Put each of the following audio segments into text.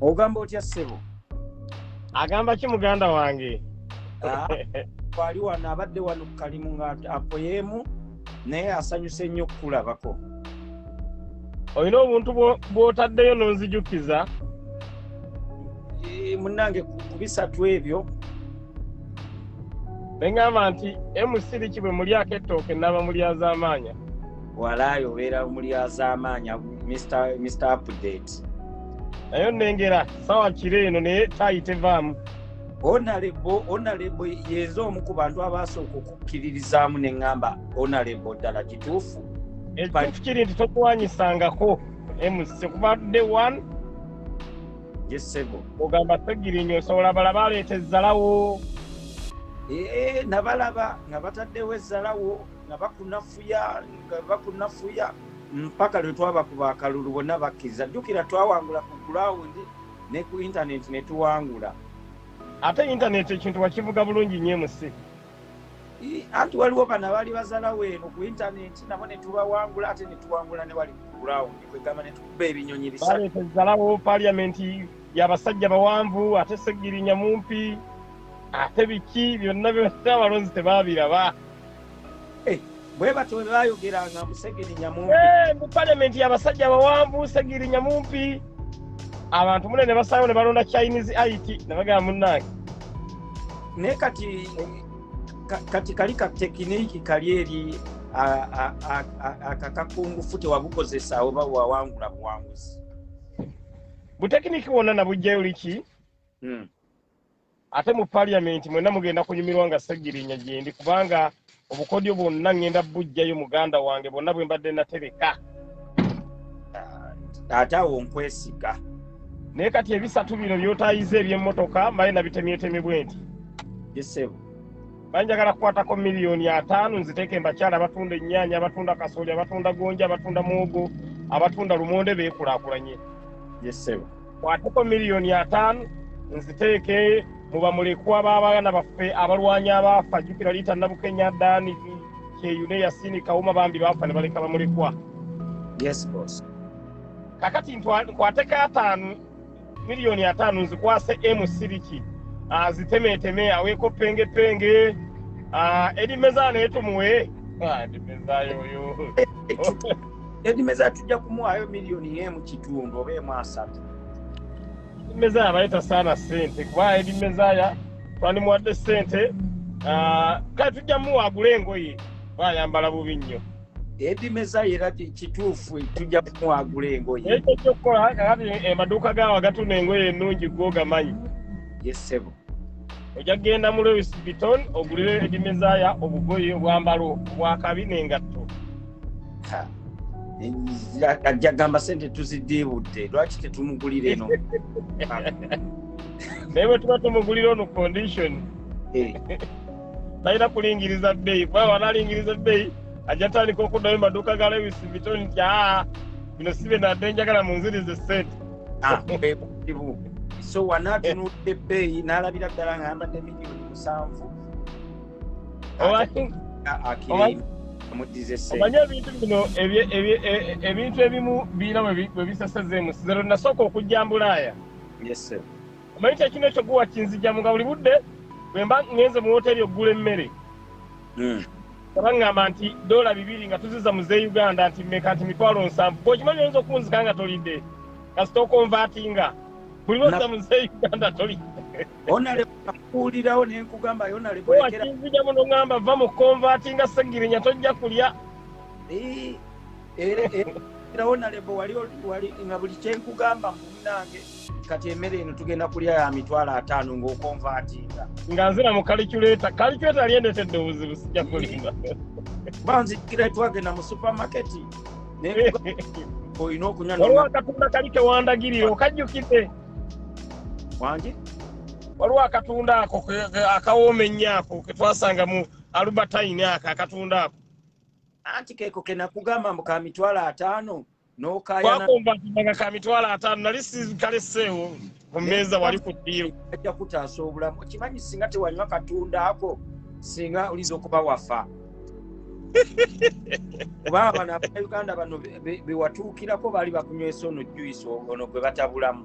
ogamba otya ssebo agamba ki muganda wange ah, kwali wano abadde wano kukalimu nga apoyeemu naye asanyuse nnyo okukulabako olina obuntu bwotaddeyo nonzijukiza eh, munange kubisatu ebyo neŋamba nti mc liki bwe mulyako ettooke naba mulyazamaanya walaayi obeera mulyazamaanya mr update naye nengera sawa kiro eno naye tayi tevaamu onalebo onalebo yenze omu ku bantu abasooka okukkiririzaamu ne ŋŋamba onalebo ddala kituufu ekituufu kiri nti tokuwanyisangako emusi kuba de one yesebo ogamba segirinyo osobola balaba aleeta ezzalawo eh, nabalaba nga bataddewo ezzalawo nga bakunafuya nga bakunafuya mpaka lwe twabakuba akalulu bonna bakkiriza jjukira twawangula ku gulawundi ne ku intaneti ne tuwangula ate intaneti ekintu wakivuga bulungi nyo emusi anti waliwo bano abaali bazalawo eno ku intaneti nabo netubawangula ate netuwangula newali kugurawundi kwegamba netukuba ebinyonyi bisatuzalawo paliamenti yabasajja bawanvu ate segirinya mumpi ate biki byonna byonna abalonzi tebabiraba eh, bwebatyo bwebayogeranga musegirinya mumpi eh, mu palamenti yabasajja bawanvu segirinya mumpi abantu mune ne basalawo ne balonda chinese it nebagamba munange naye kati kati kali ka tekiniki kali eri akakakungufu tewabukozesa oba wawangula buwanguzi butekiniki wonna nabujjayo liki hmm. Ate mu Parliament mwena mugenda kunyumirwa nga Ssegirinya gyendi kubanga obukodyo bwonna ngenda bujjayo muganda wange bwonna bwembadde natereka. Taata wo nkwesiga. Naye kati ebisatu bino byotayiza eby'emmotoka mbaye nabitemyetemye bwenti. Bisebu. Banjagala kukwatako miliyoni ataano nziteeke mbakyala abatunda ennyaanya, abatunda kasooli, abatunda gonja, abatunda muwogo, abatunda lumonde beekulaakulanye. Yes, sir. kwateko miliyoni ataano nziteeke mu bamulekwa b'abaana baffe abalwanyi abaafa jjukira liita nabukenya daani kyeyune yasini kawuma bambi baafa ne baleka bamulekwa yes boss kakati nkwateko ataano miliyoni ataano nzikwase emusiriki azitemeeteme ah, aweeko pengepenge ah, edi mezaana etumuwe ah, edimeza tujja kumuwaayo miliyoni emu kitundu oba emu asatu edimeza abaye tasaana sente kuba edimezaya twandimuwadde sente ah, kale tujja muwa agule engoye bayambala bubi nnyo edimeza era kituufu tujja kumuwagula engoye ekyo kyokukola kakati amaduuka eh, gaawa gatuna engoye ennungi gwogamanyi yesebo ojja kugenda mu lewis biton ogulire edimezaya obugoyi obwambalo bwakabi nengatto ajja gamba sente tuzidiibudde lwaki tetumugulira eno naye bwetuba tumugulira ono condition eh. talina kulingiriza bbeeyi kuba wanalingiriza bbeeyi ajja tandika okuddayo maduuka ga lewis biton nti aa bino si bye nadde njagala munzirize sente ah, ebuzibu so wanatunudde ebbeeyi n'alabira ddala nga yambadde miliyoni musanvu omanyi ebintu bino e, e, ebintu ebimu biina bwe bisasazeemu sizero nasooka okujja mbulaaya omanyi kyekino ekyo guwa kinzijamu nga buli budde bwemba ngenze mu woteri okugula emmere hmm. nga baŋŋamba nti doola bibiri nga tuziza muze uganda nti meka nti mitwalo nsanvu bwekimanyi oyinza okunzika nga tolidde kasita okonvatinga buli lwoziza muze uganda tolidde onalekuulirawo nenkugamba yonalekinzija muno ŋamba va mu konvatinga segirinya tojja kulya era onalebo wali nga buli kyenkugamba munange kati emmere eno tugenda kulya ya mitwalo ataano ng'okonvaatinga nga nzira mu kaliculeta kaliculeta lyendetedde obuzibu sijja kulimba banzikira twagenda mu supamaketi olina okunywa waliwo akatunda kali kewandagirira okajjukidde wangi waliwo akatunda ako akawooma ennyo ako ketwasanga mu alubertine ako akatunda ako anti keeko kenakugamba mbu ka mitwalo ataano nokayanawakomba ntimaga ka mitwalo ataano nali sikaleseewo ku mmeeza wali ku ddiiru ajja kutaasa obulamu okimanyi singa tewanywa katunda ako singa olinza okuba wafa kuba abana abauganda bano bewatuukirako baali bakunywesa ono juyisi ono gwe batabulamu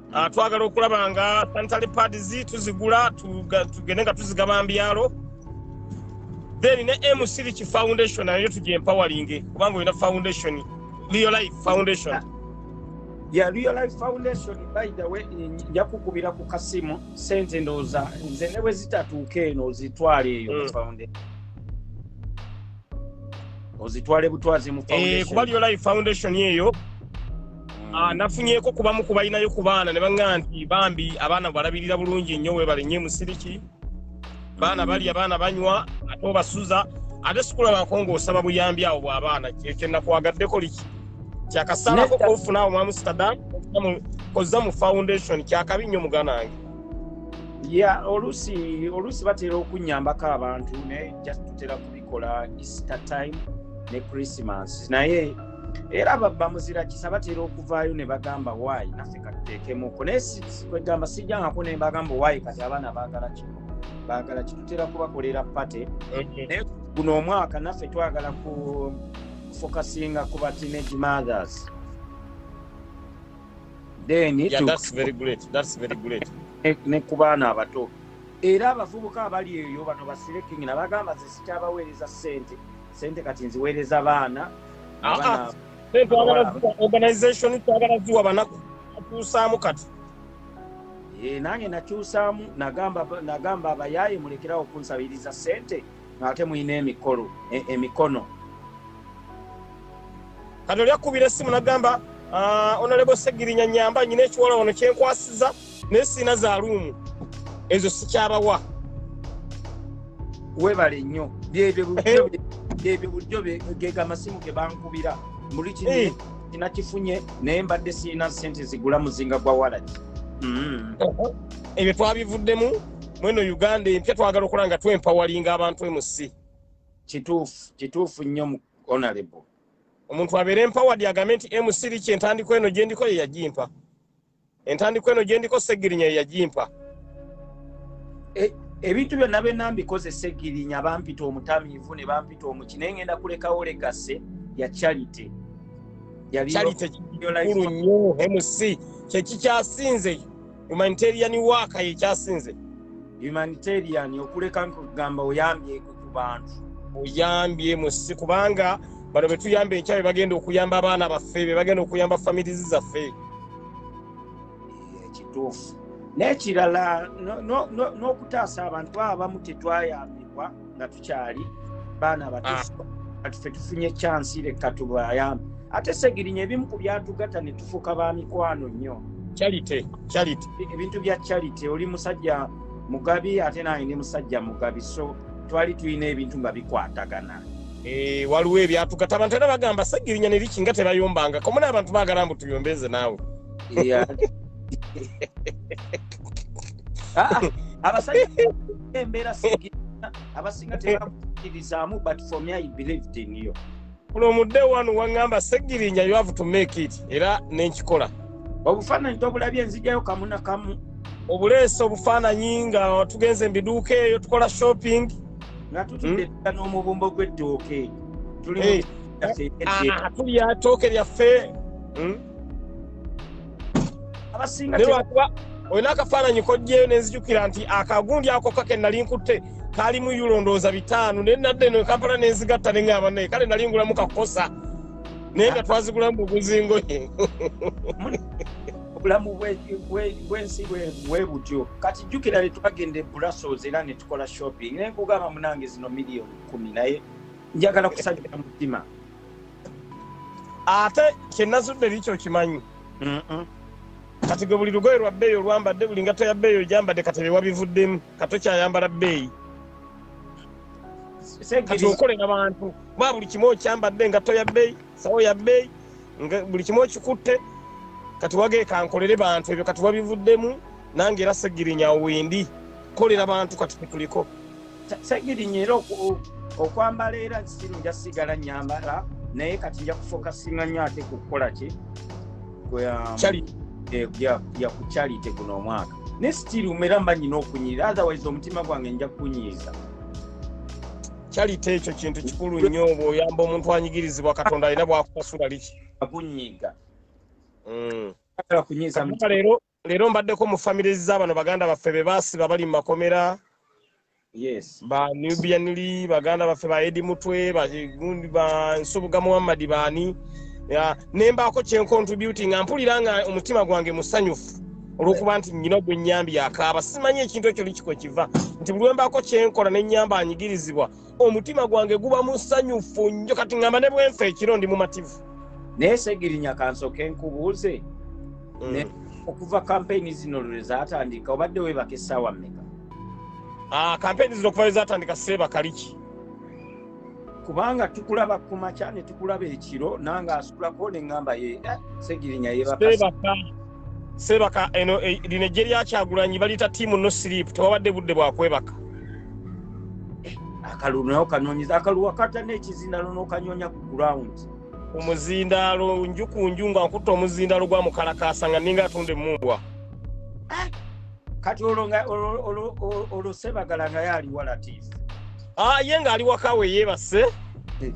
Ah, twagala okulaba nga sanitary pads tuzigula tugende nga tuzigaba mbyalo then ne msiriki foundation nayo tugye empawalinge kubanga olina foundation real life foundation ya real life foundation by the way nja kukubira ku kasimu sente ndowooza nze ne bwe zitatuuka eno ozitwala eyo mm. foundation ozitwale butwazi mu eh, foundation kuba real life foundation eyo Ah, nafunyeko kubamu kubalinayo ku baana ne baŋa nti bambi abaana balabirira bulungi nnyo webale nnyo emusiriki baana bali abaana banywa ate obasuza ate sikulabako ngaosaba buyambi awo bwabaana kyenakwagaddeko liki kyakasalako kofuna awo mwamustadan kozza mu foundation kyakabi nnyo mugana wange ya oluusi oluusi batera okunyambako abantu naye just tutera kubikola easter time ne christmas naye era babba muzira kisa batera okuvaayo ne bagamba waayi naffe katuteekemuko naye kwegamba sijjangako ne bagamba waayi kati abaana baagala kino baagala kitutera kubakolera pate naye guno omwaka naffe twagala kufokasinga ku ba teenage mothers then yeah, that's very great. That's very great. ne ku baana abato era abavubuka abali eyo bano basirekingi nabagamba ze sikyabaweereza ssente sente kati nziweereza baana ah, ah. organization twagala ziwa banaku atuusaamu kati eh, nange nakyusaamu nagamba abayaaye mulekerawo okunsabiriza sente ngaate mulina emikolo e, emikono kati oli akkubira essimu nagamba ah, onalebo segirinya nyamba nyina ekiwala wano kyenkwasiza naye sirina za luumu ezo sikyabawa webale nnyo byebyo eh. bulijjo gega amasimu ge bankubira muli kina eh. kifunye naye mbadde sirina sente zigula muzinga gwa walagi mm. ebyo twabivuddemu mweno uganda empya twagala okola nga twempawalinga abantu emusi kituufu kituufu nnyo mu honorable omuntu abeera empawadi agambe nti emusiri kyentandiko eno gyendiko yeyagimpa entandikwa eno gye ndiko ssegirinya ye yagimpa e, ebintu byonna bye nambikoze ssegirinya bampita omutamiivu ne bampita omuki naye ngenda kulekawo legase ya charity charity kikulu nnyo mc kyekikyasinze humanitarian waaka yekyasinze humanitarian okuleka nkugamba oyambye ku bantu oyambye musi kubanga bano betuyamba enkya be bagenda okuyamba abaana baffe be bagenda okuyamba familizi zaffe ekituufu n'ekirala n'okutaasa abantu abamu tetwayambibwa nga tukyali baana batufu ah. fe tufunye kyansi leka tubayambe ate segirinya ebimu ku byatugata ne tufuuka ba mikwano nnyo ebintu bya charity oli musajja mugabi ate nange ndi musajja mugabi so twali tulina ebintu nga bikwatagana eh, waliwo ebyatugata abantu era bagamba segirinya neriki nga tebayombangako muna abantu bagala mbu tuyombeze naawe ah, ah, abasajja embeera segirinya abasinga tebakirizaamu but for me i believed in you from day one wangamba segirinya you have to make it era nenkikola obufaananyi tobulabye nzijayo kamuna kamu obuleesa obufaananyi nga tugenze mubiduuka eyo tukola shopping nga tutudde hmm? tuta n'omubumbo gw'ettooke tuli ah, tulya tooke lyaffe hmm? abasinga lwakuba olina akafaananyi kojjeyo nenzijukira nti akagundi ako kake nali nkutte kalimu yulondooza bitaano naye nadde no kampala nenzigatta neŋaba naye kale nali ngulamu kakosa naye nga twazigulamu bubuzingoye obulamu bwensi bwebutyo kati jjukira netwagenda eburasos era netukola shopping naye nkugamba munange zino miliyoni kumi naye njagala kusajja mutima ate kyenazudde biki okimanyi kati gwe buli lugoye lwa bbeeyi olwambadde buli ngatto ya bbeeyi ogyambadde kati bewabivuddemu katokyayambala bbeeyi kati okolera bantu ba buli kimu okyambadde engatto ya bbeeyi sawo ya bbeeyi buli kimu okikutte kati wageeka nkolere bantu ebyo kati wabivuddemu nange era segirinya wendi kolera bantu kati tetuliko sagiri nyera okwambala era siru nja sigala nyambala naye kati nja kufokasinga nyo ate kukukola ki ya kucalite eh, guno omwaka ne sitiri umera mba nyina okunyirira otherwise omutima gwange nja kunyiiza kyalite ekyo kintu kikulu nnyo oba oyamba omuntu anyigirizibwa katonda alina bwakukasula liki akunyiga mm. leero Leero mbaddeko mu famire za bano baganda baffe be baasiba bali mu makomera yes. ba nubianli baganda baffe ba edi mutwe bagundi ba nsubuga muhammadi baani ya, ne mbaako kyencontributi nga mpulira nga omutima gwange musanyufu olwokuba nti nyina ogwe nyambi yakaaba simanyi ekintu ekyo likiko kiva nti buli wembaako kyenkola ne nyamba anyigirizibwa omutima gwange guba musanyufu nnyo kati ngamba ne bwenfa ekiro ndi mumativu naye segirinya kansoke nkubuuze mm. okuva kampeyini zino lwe zatandika obadde webaka essaawa mmeka ah, kampeyini zino okuva lwe zatandika seebakaliki kubanga tukulaba ku makya ne tukulaba ekiro nange asukulako ne ŋŋamba ye eh, segirinya yebaka sebaka eno eh, lino ejje lyakyagulanyi baliyita tiimu no siripu tewabadde budde bwakwebaka akalulu nayo kanoonyeza akaluwa kata n'ekizindaalo n'okanyonya ku gurawundi omuzindaalo nju ku nju nga nkutta omuzindaalo gwa mukalakaasa nga ninga atunda emumbwa ah! kati olwo sebagala nga yo aliwa latiifu ah, ye ng'ali wakawe yeebase eh.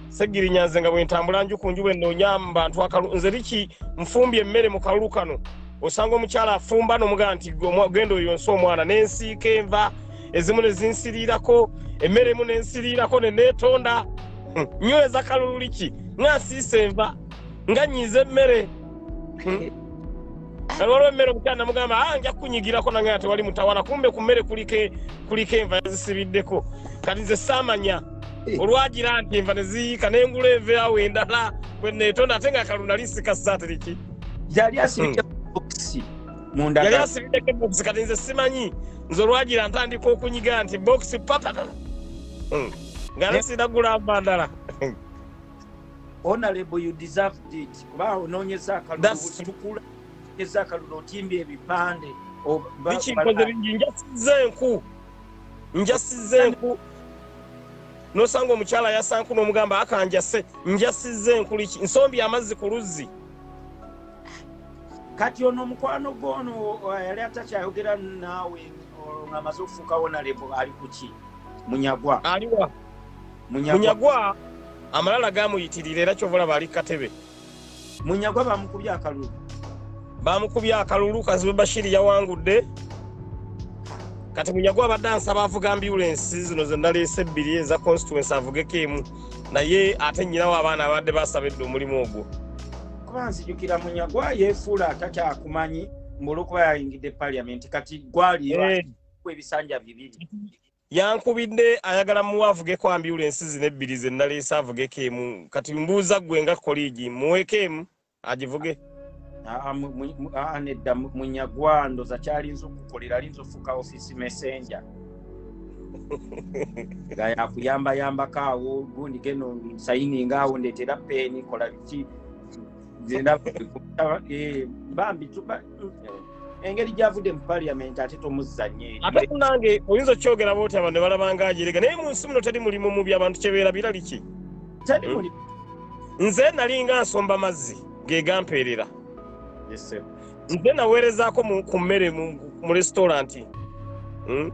segirinya nze nga bwentambula nju ku nju bwenoonya mu bantu akalu nze biki nfumbye emmere mu kalulu kano osanga omukyala afumba nomugaa nti genda oyo nsi omwana nensiika enva ezimu nezinsiriirako emmere emu nensiriirako neneetonda hmm, nyweza kalulu liki nasiisa enva nga nyiiza emmere hmm. kati waliwo emmere omukyala namugamba a ah, nja kukunyigirako nange ate wali mutawala kumbe ku mmere kuliko enva yazisibiddeko kati nze saamanya eh. olwagira nti enva neziyiika nengula enva awo endala bweneetonda ate nga kalu nali sikasaatiriki yali asibidde bokisi munda yali asibidde bokisi kati nze simanyi nze olwagira ntandika okunyiga nti bokisi patatala hmm. nga nesinagula nva ndala honorable you deserve it kuba onoonyeza akalulutukula eza akalulu otimbye ebipande bikikoze bingi njasiza enku njasiza enku nosanga omukyala yasanku nomugamba akanjase njasiza enku liki nsombi amazzi ku luzzi kati ono omukwano gwono yali atakyayogera naawe ngamaze okufuuka wonalebo ali kuki munyagwa aliwa munyagwa amalala gamuyitirira era kyova olaba ali katebe munyagwa bamukubye akalulu bamukubye akalulu kazibe bashiri yawangudde kati munyagwa abadde ansaba avuga ambulensi zino zenaleese ebbiri eza constituency avugeko emu naye ate nyinawo abaana abadde basaba edde omulimu ogwo kuba nzijukira munyagwa yefuula atakyakumanyi mbulukuba yayingidde paliamenti kati gwaliyo eh. ebisanja bibiri Yankubidde ayagala muwe avugeko ambyulensi zino ebbiri ze naleese avugeko emu kati mbuuza ggwe nga koliigi muweeko emu agivuge. Nedda munyagwando za kyalinza okukolera alinza ofuuka ofiisi messenja nga yakuyambayambako awo gundi geno sayininga awo ndeetera peeni kola biki Eh, bambi engeri gyavudde mu paliament ate tomuzzanye ate kunange oyinza okyogera boti abantu ne balaba nga ajerega naye mu nsi muno teri mulimu mu byabantu kyebeera birali ki hmm? nze nalinga nsomba mazzi ge gampeerera nze naweerezaako ku mmere mu resitoranti hmm?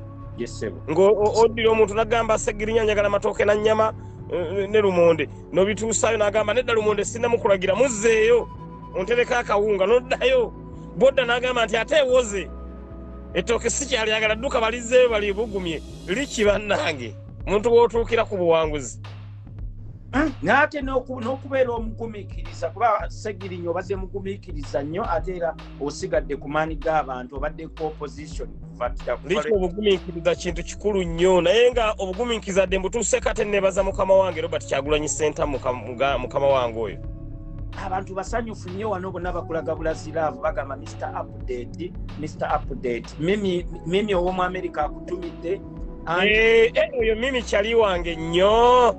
ng'oddira omuntu nagamba segirinya njagala matooke na nnyama eh, ne lumonde nobituusaayo nagamba nedda lumonde sinamukulagira muzzeeyo ontereka akawunga noddayo bwodda nagamba nti ate ewoze ettooke sikyalyagala dduka balizeeyo balibugumye liki bannange omuntu wootuukira ku buwanguzi Hmm? naate n'okubeera omugumikiriza kuba segirinyo obadde mugumikiriza nnyo ate era osigadde ku maani g'abantu obadde ku opposition obugumikiriza kintu kikulu nnyo naye nga obugumikiriza dde mbutuuseko ate nebaza mukama wange robert kyagulanyi senta mukama wange oyo abantu basanyufu nnyo wano bonna bakulaga bulaziraavu bagamba mr update mr update mimi ow'omu amerika akutumidde eh, eh, oyo mimi kyali wange nnyo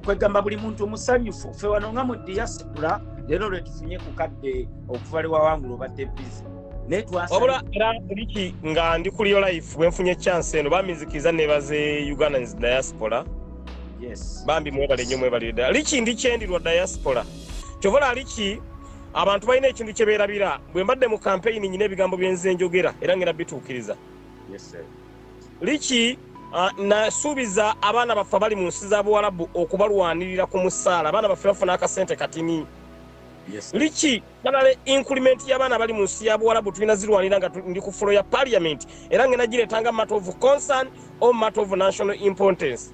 kwegamba buli muntu omusanyufu fe wano nga mu diaspora leero lwetufunye ku kadde okuva lewawangula obadde bizi wabula era liki nga ndi kuli yo life bwenfunye chance eno baminzikiriza nebaze ugandans diaspora bambi mwebale nyo mwebalire ddala liki ndi kyendirwa diaspora kyovola liki abantu balina ekintu kye beerabira bwe mbadde mu kampeyini nyina ebigambo byenze njogera era ngenda bituukiriza liki uh, nasuubiza abaana baffe abali mu nsi za buwalabu okubalwanirira ku musaala abaana baffe bafuna akasente katini liki balala inkulimenti y'abaana abali mu nsi ya buwalabu tulina zirwanira nga ndi ku fulo ya paliament era ngenda gireetanga matter of concern or matter of national importance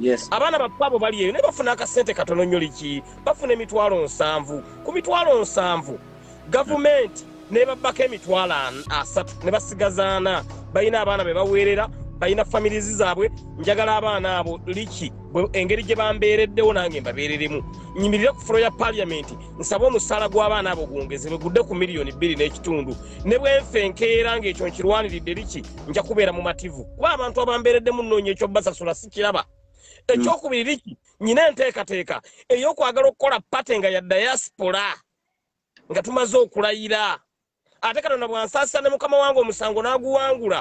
Yes. Abaana baffe abo bali eyo naye bafuna akasente katono nnyo liki bafuna emitwalo nsanvu ku mitwalo nsanvu gavumenti nebabbako emitwalo asatu ne basigazaana balina abaana be baweerera balina familizi zaabwe njagala abaana abo liki engeri gye bambeereddewo nange mbabeereremu nyimirire ku fulo ya paliyamenti nsaba omusaala gw'abaana abo gwongezebwe gudde ku miliyoni bbiri n'ekitundu ne bwenfe enkeera ng'ekyo nkirwaniridde liki nja kubeera mumativu kuba abantu abambeereddemu nnoonya ekyobasasula sikiraba ekyokubiri liki nyina enteekateeka ey'okwagala okukola pate nga ya diaspora nga tumaze okulayira ate katonda bwansaasisa ne mukama wange omusango n'aguwangula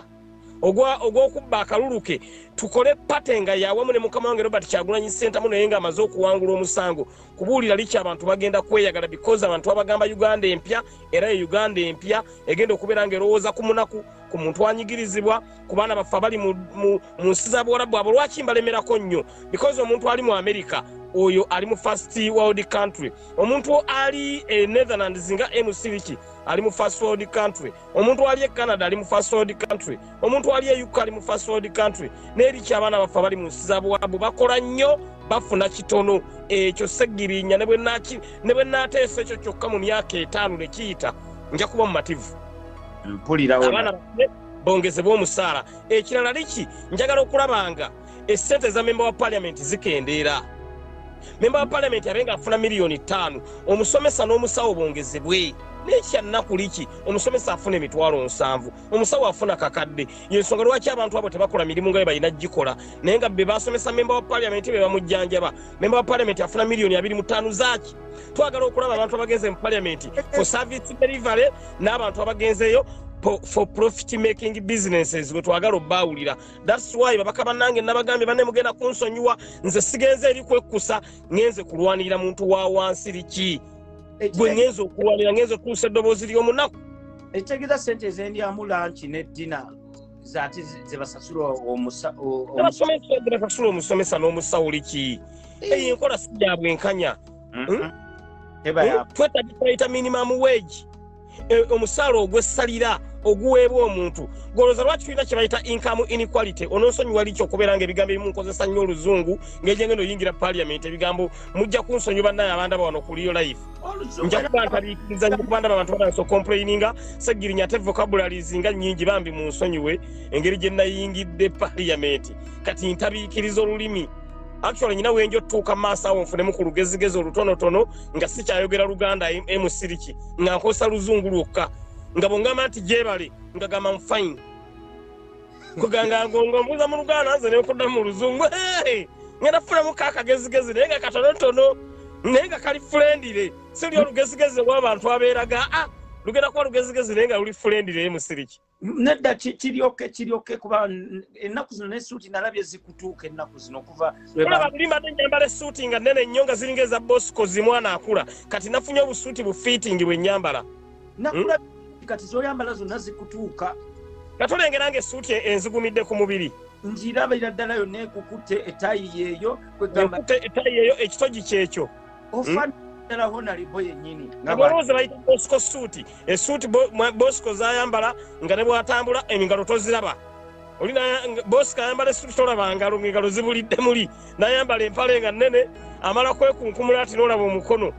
ogw'okubba akalulu ke tukole pate nga yawamu ne mukama wange robert kyagulanyi sentamu naye nga amaze okuwangula omusango kubuulira liki abantu bagenda kweyagala bikozi abantu abagamba uganda empya era ye uganda empya egenda okubeera nga erowooza ku munaku ku muntu anyigirizibwa ku baana baffe abali mu nsi za buwarabu abo lwaki mbalemerako nnyo because omuntu ali mu america oyo ali mu first world country omuntu ali e netherlands nga mcliki ali mu first world country omuntu ali e canada ali mu first world country omuntu ali e uk ali mu first world country neriki abaana baffe abali mu nsi za buwarabu bakola nnyo bafuna kitono ekyo segirinya ne bwe naateesa ekyo kyokka mu myaka etaano ne kiyita nja kuba mumativu mpulira abaana bongezebwa omusaala ekirala liki njagala okulabanga esente eza memba wa parliament zikendeera memba wa parliament abe nga afuna miliyoni ttaano omusomesa n'omusawo bongezebwe nekyannaku liki omusomesa afuna emitwalo nsanvu omusawo afuna kakadde yensonga lwaki abantu abo tebakola mirimu nga bebalina gikola naye nga bebasomesa memba wa parliament bebamujjanjaba memba wa palamenti afuna miliyoni abiri mu ttaano zaaki twagala okulaba abantu abagenze mu palamenti for service delivery n'abantu abagenzeeyo for profit making businesses wetwagala obaawulira thats why babaka bannange nabagambye banne mugenda kunsonyiwa nze sigenze eri kwekkusa ngenze kulwanirira muntu wa wansi liki gwe ngenze okulwanira ngenze okuusa eddoboozi ly'omunaku ekitegeeza sente ezendyamu lanki ne dina zati zebasasula omusomesabasasula omusomesa n'omusawo liki eh. eyo enkola si yabwe enkanya mm-hmm. hmm? hmm? twetagisaita minimum wage eh, omusaala ogwesalira oguweebwa omuntu goloza lwaki tulina kyebayita income inequality ononsonyiwa liki okubeera nga ebigambo ebimu nkozesa nnyo oluzungu ngejengeno oyingira parliament ebigambo mujja kunsonyiwa naye abandaba wano kuliyo life nja kuba ntabiikiriza nyo kuba ndaba abantu batandisa okomplaininga segirinya ate vocabularies nga nyingi bambi mu nsonyiwe engeri gye nayingidde paliyamenti kati ntabiikiriza olulimi actually nyina wenjo tuuka maaso awo nfunemu ku lugezigezi olutonotono nga sikyayogera luganda emusiriki nga nkozesa luzungu lwokka nga bwongamba nti gyebale nga gamba mfine kuganga agonga ombuuza mu luganda nze nenkudda mu luzungu ngenda kufunamu ka akagezigezi naye nga katonotono naye nga kali fulendire sili olugezigezi olwabantu abeeraga a ah, lugenda kuba lugezigezi naye nga luli fulendire ye musiriki nedda kiryoke kiryoke kuba ennaku zino nesuuti nalabye zikutuuka ennaku zino okuva olaba luli mbadde nyambala esuuti nga nene nnyo nga ziringa eza bosco zimwana akula kati nafunye obusuuti bufiitingi bwe nyambala nakula hmm? kati zoyambala zonna zikutuuka nga tulengera nga esuuti e-, enzigumidde ku mubiri njirabira ddala yonna ekukutte etayi yeeyo kwegambate etayi yeeyo ekitogi kyekyo ofana hmm? ddala honalibo yennyini abalowooza bayita bosco suuti esuuti bosco zayambala nga ne bwatambula engalo toziraba oli bosi kayambala esuti tolaba ngalo ngengalo zibulidde muli nayambala empale nga nene amala kwekunkumula ati nolaba omukono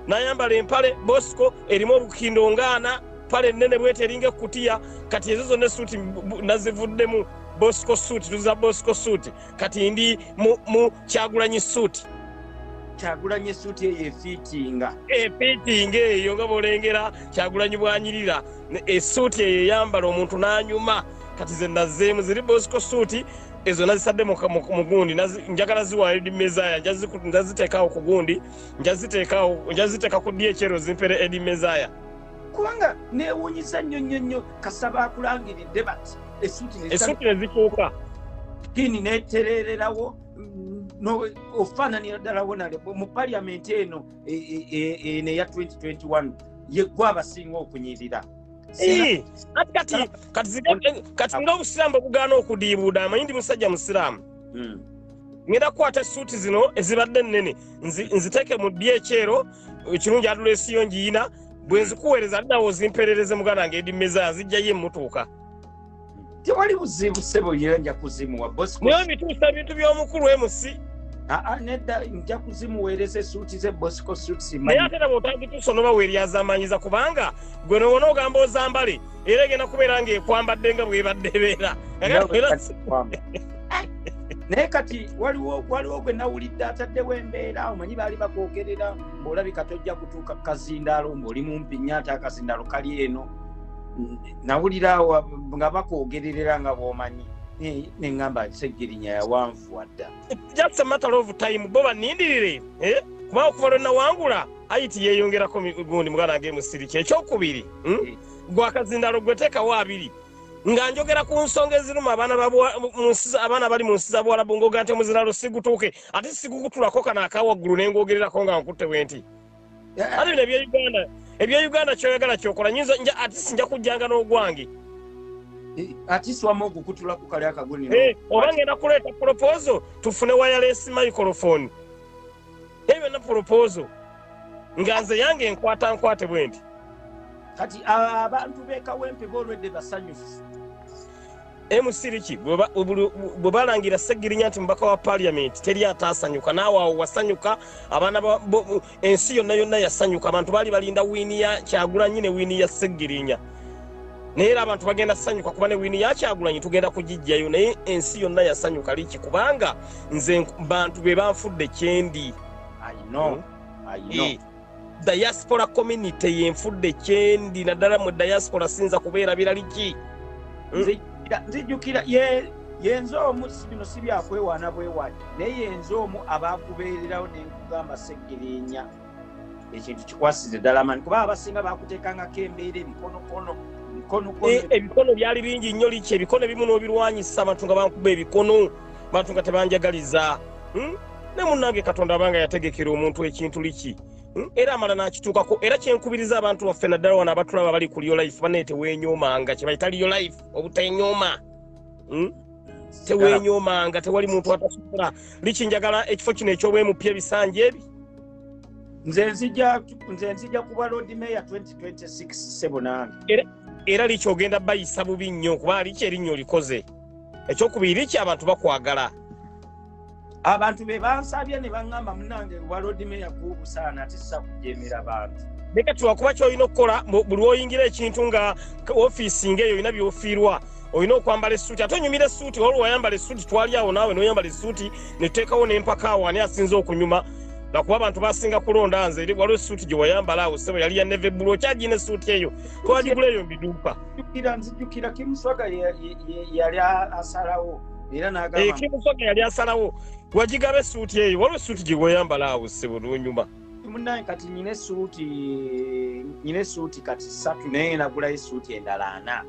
nayambala empale bosco erimu olukindo ngaana pale nene bwete eringa ekutiya kati ezo zonna esuti nazivuddemu bosco suit tuza bosco suit kati ndi mu kyagulanyi suit kyagulanyi esuti eyo efiitinga efiitinga eyo nga bolengera kyagulanyi bwanyirira esuti eyo eyambala omuntu nanyuma na kati ze nazeemu ziri bosco suuti ezo nazisadde mugundi njagala ziwaayo edi mezaya njaziteekaawo ku gundi njaziteeka ku ddi ekyero zimpere edi mezaya kubanga newunyiza nnyo nnyo nnyo kasaba akulangiridde bat esuuti nezikyuka pini neterererawo ofaananira ddala wonale mu paliamenti eno e, e, e, eno eya 2021 yeggwa abasinga okunyirira Eh, kati kati kati zide kati nga obusiraamu bwebugaana okudiibuuda amanyi ndi musajja musiraamu hmm. ngenda kukwata esuuti zino ezibadde ennene nziteeke mu ddi ekyero ekirungi adula esiyo ngiyina bwe nzikuweereza addawo zimperereze muganda nga edi meza zijjayo emutuuka tewali buzibu sebo yera nja kuzimuwa bosikosnaye mituusa bintu by'omukulu emusi aa nedda nja kuzimuweereza esuuti ze bosiko suutisinaye ate nabo otagituusa onoba weeryazamanyiza kubanga gwe nowona ogamba ozambale era egenda kubeera ng'ekwambadde nga bwebadde ebeera naye kati waliwo waliwo gwe nawulidde ataddewo embeera omanyi baali bakwogerera ng'olabika tojja kutuuka ku kazindaalo ng'oli mumpi nnyo ate akazindaalo kali eno nawulira nga bakwogererera nga bwomanyi neŋamba segirinya yawanvuwa dda just a matter of time bo banindirire eh? kuba okuva lwe nawangula ayiti yeyongerako gundi muganda nge musiriki ekyokubiri hmm? eh. gwakazindalo gwetekawo abiri nga njogera ku nsonga eziruma abaana bali mu nsi za buwalabu ngaoga nti omuziralo sigutuuke ate sigukutulako kano akawaggulu nengogererako nga nkutte bwenti kati bino ebyeuganda ebyeuganda kyoyagala kyokola nyinza nja atisi nja kujjanga n'ogwange eh, atisi wama okukutula ku kali akaguni eh, oba ngenda kuleeta polopozo tufune wayalesi microfoni ebyo byonna polopozo nga nze yange enkwata nkwate bwe nti kati abantu bekawempe bolwedde basanyufu emusiriki bwe balangira segirinya nti mubaka wa paliamenti teri ataasanyuka naawe awo wasanyuka abaana ensi yonna yonna yasanyuka abantu baali balinda wiini ya kyagulanyi ne wiini ya segirinya naye era abantu bagenda sanyuka kuba ne wiini yakyagulanyi tugenda kugijjayo naye ensi yonna yasanyuka liki kubanga nze bantu be banfudde kyendi I know. Hmm? I know. E. diaspora community yenfudde kyendi naddala mu diaspora sinza kubeera birali ki nzijjukira yenze omu bino si byakwewaana bwewaani naye yenze omu abakubeererawo nenkugamba segirinya ekintu kikwasize ddala mani kuba abasinga bakuteekangako embeera ebikonokono ebikono eh, byali bingi nnyo liki ebikono ebimu n'obirwanyisa abantu nga bankuba ebikono bantu nga tebanjagaliza hmm? ne munnange katonda abanga yategekera omuntu ekintu liki hmm? era amala n'akituukako era kyenkubiriza abantu baffe naddala wano abatulaba bali ku liolife banaye tewenyoomanga kyebayita liolife obutenyooma hmm? tewenyoomanga tewali muntu atasobola liki njagala ekifo kino ekyobwemupya ebisanja ebi nze nzija kuba lord mayor 2026 sebonange era likyogenda bayisa bubi nnyo kuba liki erinnyo olikoze ekyokubiri ki abantu bakwagala abantu be bansabye ne baŋŋamba munange walodimeya kuubusaana ati sakujemera bantu leka tiwakuba kyolina okukola buli oyingira ekintu nga ofiisi ngaeyo olina byofiirwa olina okwambala esuuti ate onyumira esuuti waliwo wayambala esuuti twali awo naawe noyambala esuuti netuteekawo nempaka awo ani asinza okunyuma nakuba abantu basinga kulonda nze waliwo esuuti gyewayambala awo sebo yali ya neve bulu okyagina esuuti eyo twagigula eyo mbiduuka nzijukira nzijukira kimusoga yali asalawo era nagakimusoga eh, yali asalawo wagigaba esuuti eyo waliwo esuuti gyeweyambala awo sebo lunyuma munaye kati nyina esuuti nyina esuuti kati satu naye nagulayo esuuti endala ana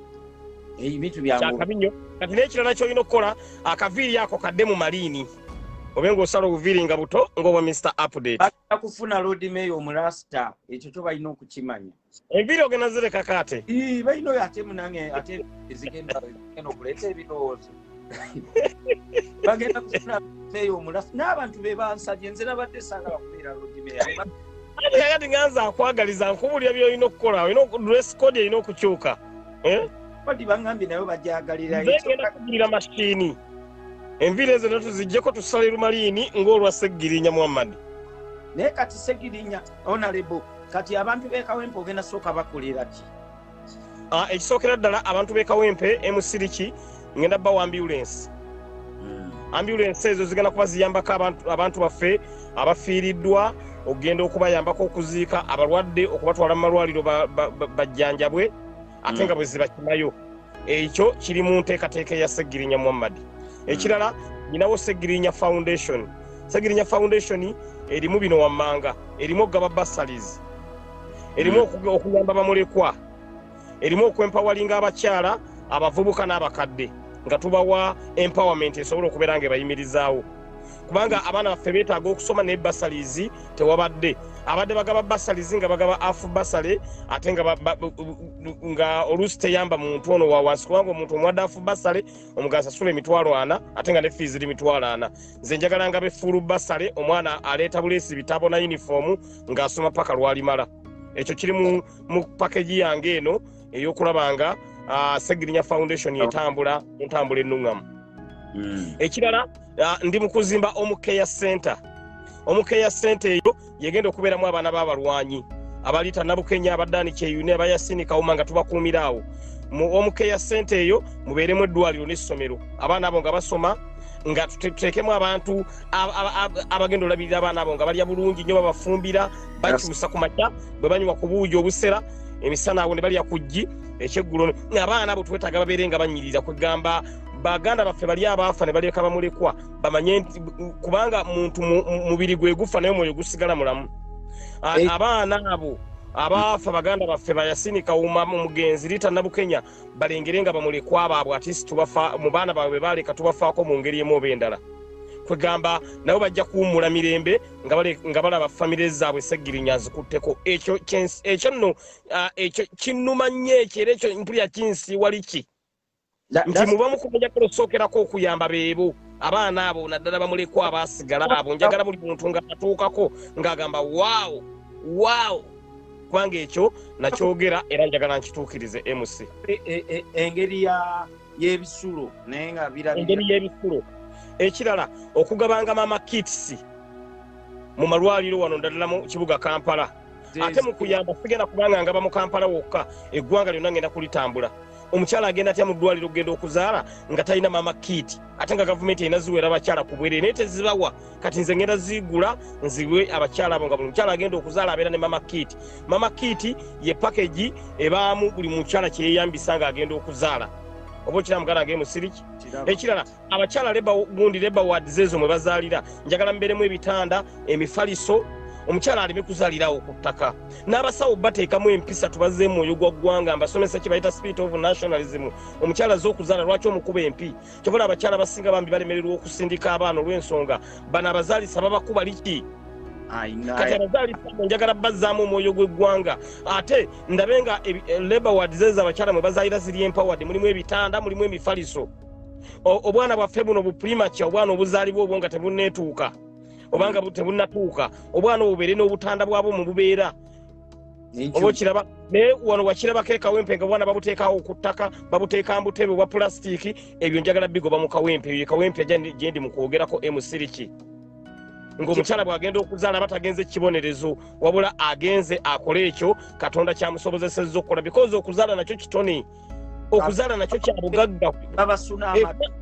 ebintu byankyakabinyo kati nekirala kyolina okukola akaviiri ako kadde mu maliini obe ngaosala obuviiri nga buto ngaobwa mr update akufuna lodmayo omurasta ekyo kyo balina okukimanya Enviri ogenda zireka kate. Ii, baino ya temu nange, ate zigenda, eno kulete ebidozi. Bagenda kufuna meyo omulafu. N'abantu be bansabye, nze nabadde saagala kubeera Lord Mayor. Ani kakati nga nze akwagaliza nkubulira by'olina okukola, olina dress code erina okukyuka. Eh? Badi bangambye nayo bagyagalira. Nze ngenda kugulira mashini. Enviri ezo natuzijjeko tusale lumaliini ng'olwa Ssegirinya Muhammad. Naye kati Ssegirinya onalebo kati abantu bekawempe ogenda sooka bakolera ki ah, ekisookera ddala abantu bekawempe emusiriki ngenda bawa ambulensi hmm. ambulensi ezo zigenda kuba ziyambako abantu baffe abafiiriddwa okugenda okubayambako okuziika abalwadde okubatwala mu malwaliro bajjanjabwe ate hmm. nga bwe zibakimayo ekyo kiri mu nteekateeka eya segirinya muhammadi ekirala nyinawo segirinya foundation segirinya foundation erimu bino wammanga erimu okugaba basalis erimu hmm. okuyamba bamulekwa erimu okwempawalinga abakyala abavubuka n'abakadde nga tubawa empowerment esobola okubeera nga ebayimirizaawo kubanga abaana baffe beetaaga okusoma naye basalizi tewabadde abadde bagaba basalizi nga bagaba afu basale ate nga oluusi teyamba muntu ono wawansi kubanga omuntu omuwadde afu basale omugazi asula emitwalo ana ate nga ne fii ziri mitwalo ana nze njagala nga befuulu basale omwana aleeta buleesi bitabo na yunifoomu ng'asoma paka lwalimala ekyo kiri mu pakegi yange eno ey'okulaba nga ah, segirinya foundation etambula entambula ennuŋŋamu hmm. ekirala ah, ndi mu kuzimba omukeya center omukeya center eyo yegenda okubeeramu abaana b'abalwanyi abaliita nabukenya abadani kyeyune abayasini kawuma nga tubakuumira awo omukeya sente eyo mubeeremu eddwaliro n'essomero abaana abo nga basoma nga tuteekemu abantu abagenda olabirira abaana abo nga balya bulungi nyo babafumbira bakyusa ku makya bwe banywa ku buugi obusera emisana awo ne balya ku ggi ekyeggulo abaana abo twetaaga babeere nga banyirira kwegamba baganda baffe bali abaafa ne baleka bamulekwa bamanye nti kubanga muntu mubiri gwe gufa naye omwoyo gusigala mulamu eh. abaana abo abaafa baganda baffe bayasini kawuma omugenzi rita nabukenya balengere nga bamulekwa baabwe atisi tubafa mu baana baabwe baaleka tubafaako mu ngeri emu oba endala kwegamba nabo bajja kuwummula mirembe nga balaba famire zaabwe segirinya azikutteko ekyo ekyo nno ah, ekyo kinnuma nnyo ekyo era ekyo mpulira kinsi wali ki nti muba mukumunjagala osookerako okuyamba beebo abaana abo naddala bamulekwa abaasigala abo njagala buli muntu nga atuukako ng'agamba waawo waawo kubanga ekyo nakyogera era njagala nkituukirize mc e, e, e, engeri y'ebisulo naye nga birengeri y'ebisulo ekirala okugabanga mama kits mu malwaliro wano naddala mu kibuga kampala ate mu kuyamba sigenda kubanga ngaba mu kampala wokka eggwanga lyonna ngenda kulitambula omukyala agenda atya mu ddwaliro okugenda okuzaala nga talina maama kiiti ate nga gavumenti erina ziwera abakyala ku bwerere naye tezibawa kati nze ngenda ziigula nziwe abakyala abo nga buli mukyala agenda okuzaala abeera ne maama kiiti maama kiiti ye pakegi ebaamu buli mukyala kyeyeyambisa nga agenda okuzaala oba okira muganda agee musiriki ekirala abakyala leba gundi leba ward zezo mwe bazalira njagala mberemu ebitanda emifaliso omukyala aleme kuzalirawo ku ttaka n'abasawo bateekamu empisa tubaze mwoyo gwa ggwanga mbasomesa kye bayita spirit of nationalism omukyala ze okuzaala lwaki omukuba empi kyobola abakyala basinga bambi balemererwa okusindika abaana olw'ensonga bano abazaalisa babakuba liki kati abazaalisa njagala bazzaamu omwoyo gw'eggwanga ate ndabe nga eh, labor ward zeza abakyala mwe bazaalira ziri empoward mulimu ebitanda mulimu emifaliso obwana bwaffe buno buprimature obwana obuzaalibwa obwo nga tebuneetuuka obanga tebunnatuuka obwana obubeere n'obutanda bwabwo mu bubeera oba okiraba naye wano wakirabako ekawempe nga bwana babuteekawo ku ttaka babuteeka mbutebe obwa pulasitiiki ebyo njagala bigoba mu kawempe ebyo kawempe gyendi mu kwogerako emusiriki ng'omukyala bw'agenda okuzaala aba tagenze kibonerezo wabula agenze akole ekyo katonda kyamusobozesezza okukola bikozi okuzaala nakyo kitone okuzala nakyo kyabugagga babasuna eh, amatu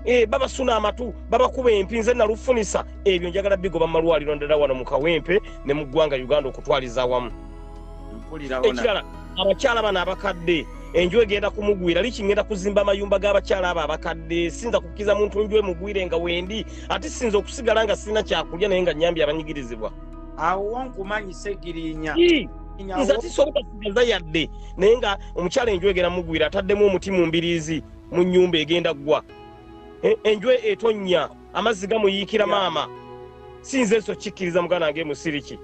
eh, babasuna amatu babakuba empi nze nalufunisa ebyo njagala bigoba mu malwaliro ndala wano mu kawempe ne mu ggwanga uganda okutwaliza awamu ekirala abakyala bano abakadde enju egenda kumugwira liki ngenda kuzimba amayumba g'abakyala abo abakadde sinza kukkiriza muntu nju emugwire nga wendi ate sinza okusigala nga sirina kyakulya naye nga nyambye abanyigirizibwa awo wonkumanyisa egirinya nze tisobola kugaza yadde naye nga omukyala enju egenda mugwira ataddemu omuti mu mbiriizi mu nyumba egenda ggwa e, enju etonnya amazzi gamuyiikira maama sinze nso kikkiriza muganda wange musiriki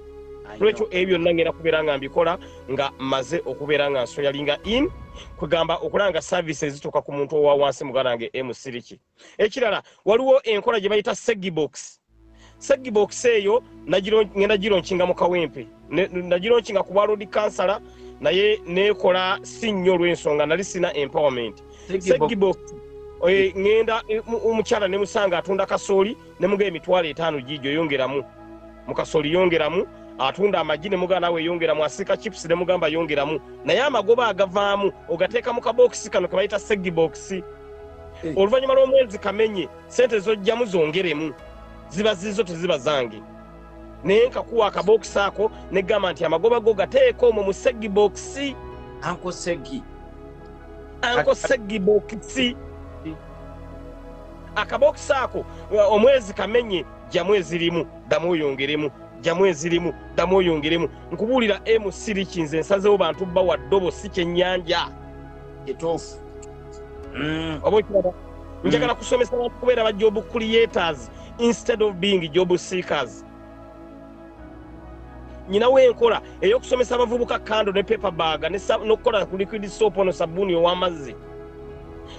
lwekyo ebyo byonna ngenda kubeera nga mbikola nga maze okubeera nga nsoyalinga in kwegamba okulaba nga service ezituuka ku muntu owa wansi muganda wange emusiriki eh, Ekirala waliwo enkola gye bayita Segibox. Segibox eyo ngenda gironkinga mu kawempe. Nagironkinga ku bwaloodi kansala naye nekola si nnyo olw'ensonga nali sina empowerment. Segibox eh, ngenda eh, omukyala ne musanga atunda kasooli. ne muga emitwalo etaano giijo yongeramu mukasoli yongeramu atunda amagi ne muga naawe yongeramu asiika chips ne mugamba yongeramu naye amagoba agavaamu ogateeka mu kabookisi kano ke bayita seggi bookisi eh. oluvannyuma lw'omwezi kamenye sente zojjamu zongeremu ziba zizo teziba zange naye nkakuwa akabokisi ako negamba nti amagoba go gateeka omwo mu seggi bokisi anko seggi anko seggi bokisi akabokisi ako uh, omwezi kamenye jamu ezirimu damu oyongeremu jamu ezirimu damu oyongeremu nkubuulira emu siriki nze nsazewo bantu bba wa ddobo si kyennyanja etuufu mm. oba okiraba njagala mm. kusomesa bantu kubeera bajja obukuliyetazi instead of being job seekers nyina wenkola eyokusomesa abavubuka kando ne paper bag nokukola ku liquid soap ono sabuni owamazzi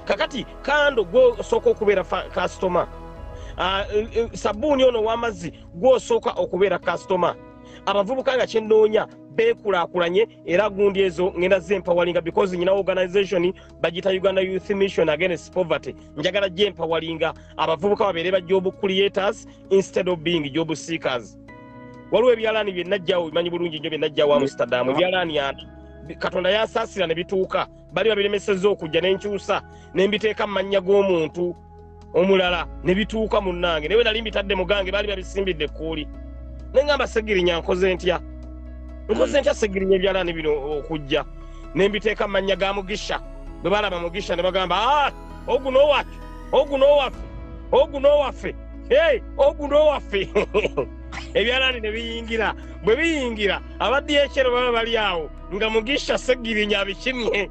kakati kando gwosooka okubeera customer ah, eh, eh, sabuni ono owamazzi gwosooka okubeera customer abavubuka nga kyenoonya bekulakulanye era gundi ezo ngenda zempawalinga because nyina organization bagita uganda youth mission against poverty njagala gyempawalinga abavubuka babeere ba job creators instead of being job seekers waliwo ebyalaani byenajjawo bimanyi bulungi nnyo byenajjawo amsterdam ebyalaani ani katonda yasaasira ne bituuka bali babiremeseza okujja nenkyusa nembiteeka mu mannya g'omuntu omulala ne bituuka munnange naye nali mbitadde mugange baali babisimbidde ekkuuli naye ngamba segirinya nkoze ntya nkoze ntya segirinya ebyalaani bino okujja ne mbiteeka mu mannya ga mugisha bwe balaba mugisha ne bagamba ah, oguno owaffe oguno owaffe oguno owaffe oguno owaffe ebyalaani ne biyingira bwe biyingira abaddi ekyero baba bali awo nga mugisha segirinya abikimye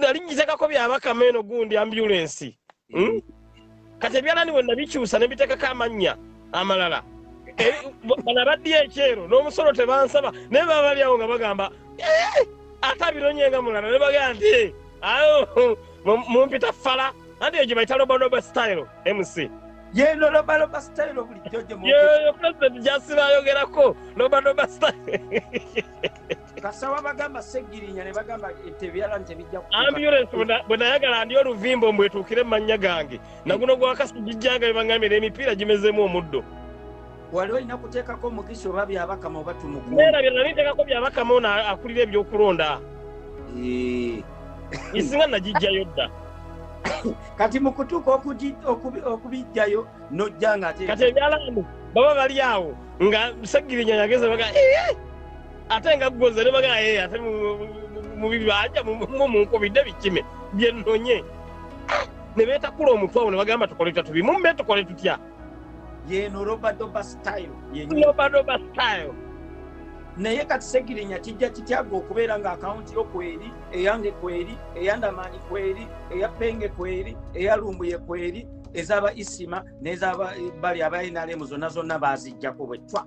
nali njitegako byabakama eno gundi ambulensi hmm? mm. kati ebyalani bwe nabikyusa ne bitekako amannya amalala eh, bana baddiyo ekyero n'omusolo tebansaba naye baba bali awo nga bagamba eh, ate abironye nga mulala ne bagamba nti eh, awo mumpita fala anti egyo bayita lobaloba style mc yeno lobaloba style bulijjo gyemuyoyo president gyasibayogerako lobaloba style kasaba bagamba segirinya ne bagamba tebyala ntebijja ambulance bwe nayagala ndi oluvimbo mbwetuukire mu mannya gange naguno gwakasi gijjanga bebangambira emipiira gimezeemu omuddo wali olina kuteekako omukisa oba byabakama oba tumukuerabye nali nteekako byabakama ono akulira ebyokulonda isinga nagijjayo dda kati mukutuuka okubijjayo nojja nga kati ebyalamu baba bali awo nga segirinya yageze baga ate nga gwoze nebagala ye ate mubibanja mumunkubidde bikime byenonye nebetakula omutwe awo nebagamba tukole tutya tubimumbe tukole tutya yeno robadoba style robadoba style naye kati segirinya kijja kityaga okubeera nga akawunti yo kweri eyange kweri eyandamaanyi kweri eya penge kweri eya lumbuye kweri ezaba isima nezabali eh, aba nrm zonna zonna bazijjako bwetwa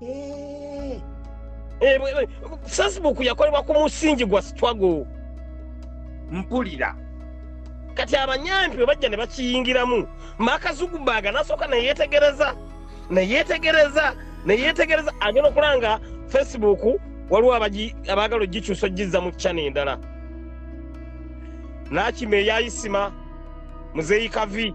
Eh, eh, eh, facebook yakolebwa ku musingi gwa struggle mpulira kati abanyampi bwe bajja ne bakiyingiramu makazugubaaga nasooka neyetegereza neyetegereza neyetegereza agenda okulanga facebook waliwo abaagala ogikyusa ogizza mu kyana endala nakima eyayisima muzeeyi kavi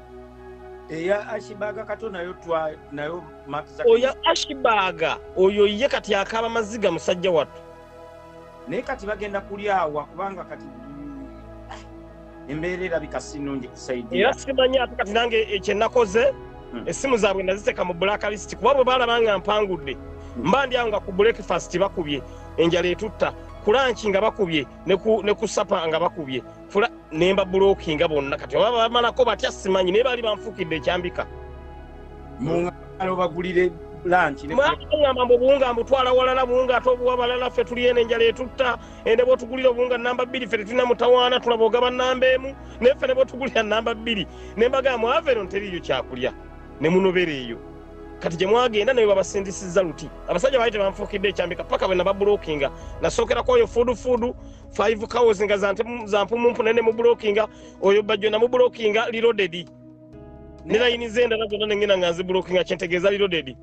eya ashibaga kato nayo twa nayo makiza oya ashibaga oyo ye kati akaba maziga musajja watu naye kati bagenda kulyawa kubanga kati embeera erabika si nnungi kusaidia era simanyi ate kati nange ekyenakoze hmm. essimu zaabwe naziteeka mu black list kuba bwe baalaba nga mpangudde hmm. mba ndi awo nga ku breakfast bakubye enjala etutta kulanki nga bakubye ne ku sapa nga bakubye fula nemba bulokinga bonna kati oba bamalako batya simanyi naye baali banfukidde ekyambika mungaalobagulire lankiamba mbu obuwunga mbutwala walala buwunga ate obuwa balala ffe tuli eno enjala etutta ende bwotugulira obuwunga namba bbiri ffe tetulina mutawaana tulaba ogaba namba emu naye ffe ne bwotugulira namba bbiri ne mbagaa mwava eno nteriiyo kyakulya ne munobera eyo kati gye mwagenda naye babasindisizza luti abasajja baali tebanfuukidde ekyambika paka bwe nababulokinga nasookerakwoyo fuudufuudu five cows nga zampumunpuna ne mubulokinga oyo bajjo namubulokinga lilodedi ne layini zendala zonna nengenda nga nzibulokinga kyentegeeza lilodedi